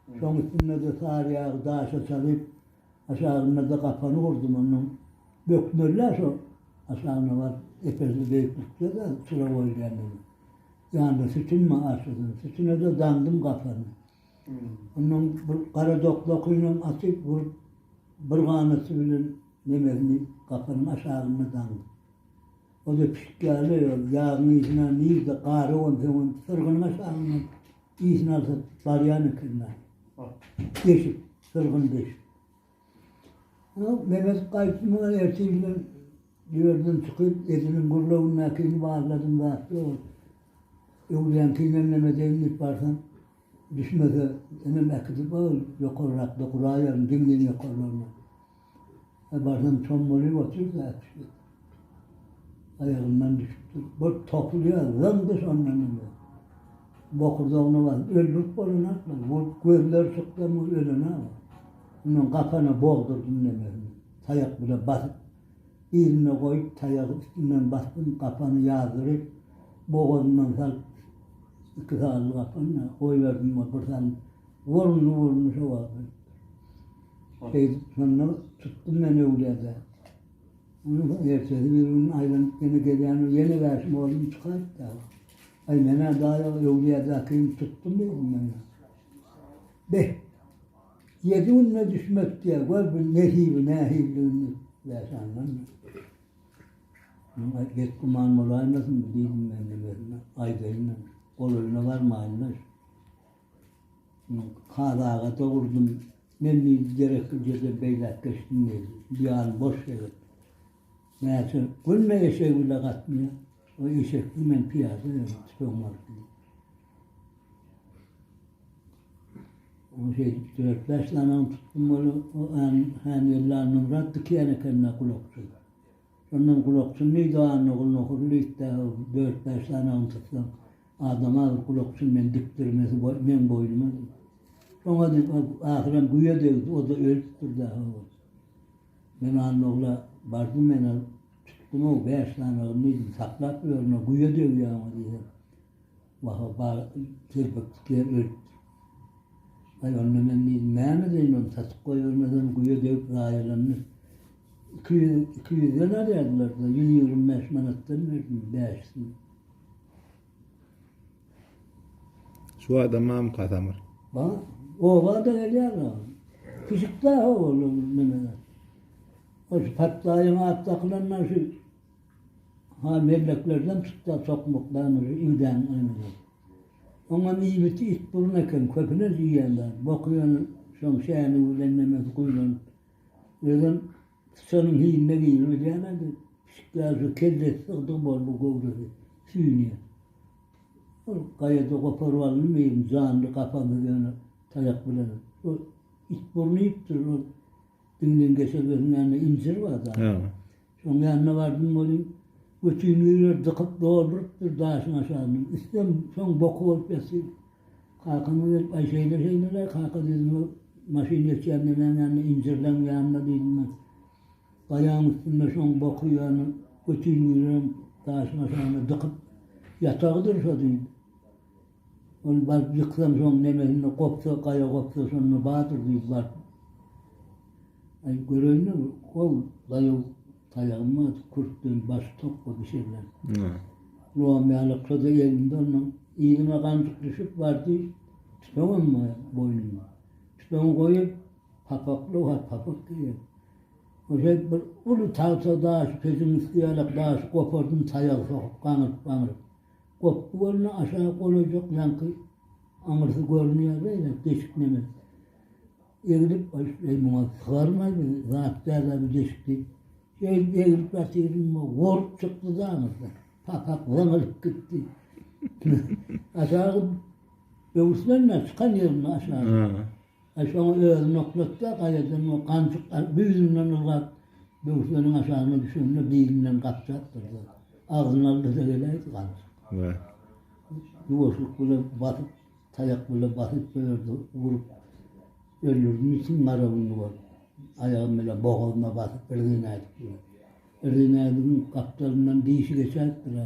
Şoň üstünde-de sary ýagy daşa çalyp, aşagynda-da gapany gurdum. Ondan bökmeli-ä şo aşagyna baryp, epesli beýiklikde-de çyra goýulýan ýeri. Ýanynda sütünmi aşasyn, sütüne-de daňdym gapany. Ondan bir gara doklakynam açyp, burup, bir ganaty bilen nemesini gapanyň aşagyna daňdym. Ol-da çykýarly, ol ýagyň ysyny alan nirde gara bolsaň, ol syrgynyň aşagyndan ysyny alsa barýan eken dagy. Deşik, syrgyn deşik. Ýok, Mehmet gaýtdy muňa ertir bilen ýerden çykyp, Ediliň gurlawyndakyny barladym zat ýok. Öwlüýäňkinem neme edeýin diýip barsam, düşmese, inim äkidip al, ýokarrakda guraýaryn, diňden ýokarlaryna. Barsam çommalyp otyr zat ýok. Aýagyndan düşüpdir. Bir topulýar, zyňdy şondan indi. Bokurdagyna baryp öldürip bolanok muny. Bu gözleri çykdan bu ölenok. Ondan gapana bogdurdym nemesini. Taýak bilen basyp, yzynda goýup, taýagy üstünden basdym, gapany ýazdyryp, bogazyndan salyp, iki sazly gapany-da goýberdim, bir salym wyrrndy-wyrrndy şo wagt ölüpdir. Şeýdip, şonda tutdum men öwlada. Onuň ertesi bir gün aýlanyp ýene gelýän ol ýene wäşim oglum çykaýyp dagy. Aý, men-ä daýy öwlýadakyny tutdum diýdim men. Beh, ýedi günde düşmek diýýär, gör bir nesibi nähilidigini wäşandan. Muňa betgüman bolaýmasyn diýdim men özüme, aýdaýyn men, gol eline barmaýyn-da. Men Kazy aga dogurdym. Men diýdi, gereksiz ýerden beýläk geçdim diýdi. Bu ýan boş sebet. Mäşe günde eşegi bile gatnaýar. O eşekli, men pyýada ýörün, tüpeň alyp diýdi. Ol şeýdip dört-bäş danaň tutdum, ol-a än-än elli annamyrat dikeýän eken-de gulakçy. Şondan gulakçyn meýdanyna gulnakur lüýtde dört-bäş sanagyny tutsaň, adama bir gulakçyn men dikdirmesi bor, meň boýnuma diýip. Şoňa diýip, ol ahyram güýe degdi, o-da ölüpdir dagy ol. Men Annagula bardym, men ol tutdum-ow, bäş sanagyny diýdim, saklap ýörün, o güýe degýär oňa diýdim. Wah-a, bar telpeklik ýer ölüpdir. Aý, onda men indi näme edeýin, ony satyp goýbermesem, guýa degip zaýalandy. Iki ýüz, iki ýüzden alýardylar-da, ýüz ýigrimi bäş manatdan berdim bäşisini. Şu adamam kasamyr. Ba, oba-da gelýär-ä. Pişik-dä ho, ol, ol, neme-de. Ol şu patlaýyň at dakylanlary şu. Haa melleklerden tutda sokmak danyly igdäň ömüri. Oňam iýmiti it burun eken köpüler iýýän zat boky ýöne şoň şäni bilen nemesi guýlanyp özem syçanyň hiline geýir bilýäňä de pişikler şu kellesi sygdygy boldy göwresi süýnýär. Ol gaýada goparyp alny meýem janly gapansyz ýöne taýak bilen ol it burun iýipdir ol diňden geçer görünýän de injir bar zat. Soň ýanyna bardym welin, götüni birer dykyp doldurypdyr daşyň aşagyny. Üstem soň boky bolup ýatyr. Kakama gelip, Aý, şeýle-şeýle-le, kaka diýdim, o maşyn geçýän neneň ýanynda, injirleň ýanynda diýdim men. Gaýaň üstünde şoň boky ýany götüni birem daşyň aşagyna dykyp ýatagydyr şo diýdim. Ol baryp ýyksansoň nemesinde gopsa, gaýa gopsa şonda bardyr diýip baryp Aý, göreýin-le, gol daýaw taýagym bar, kürtden baş tokga bişirilen. Lowam ýalakja-da elinde onuň. Yzyna ganjyk düşüp bardy, tüpeňem bar boýnunda. Tüpeňi goýup, papakly bar, papak geýen. Oje bir uly tagta daşy, pejiň üsti ýalak daşy gopardym, taýagy sokup gaňryp-gaňryp. Gopgy gölüne aşa golaýjak ýaňky aňyrsy görünýär beýle deşik neme. Eglip eý muňa sygarmaý bir zat dälä bu deşik diýip. Şeýdip eglip ýatyryn bu gurt çykdy daňyrsy. Papak zyňylyp gitdi. Aşagy böwürslenmä çykan ýerinde aşagy. Aý şoňa özüni oklatda gaýadan we ganjyk güýzünden ylgap böwsüniň aşagyna düşende bilinden gapjakdyr-da, agzyny alda-da geläýdi ganjyk. Wah. Ýuwaşlyk bilen basyp, taýak bilen basyp şo ýerde urup öldürdim içiň garawyny we aýagym bilen bogazyna basyp irginäýdik bilen. Irginäýdigiň gapdalyndan dişi geçäýipdir-ä.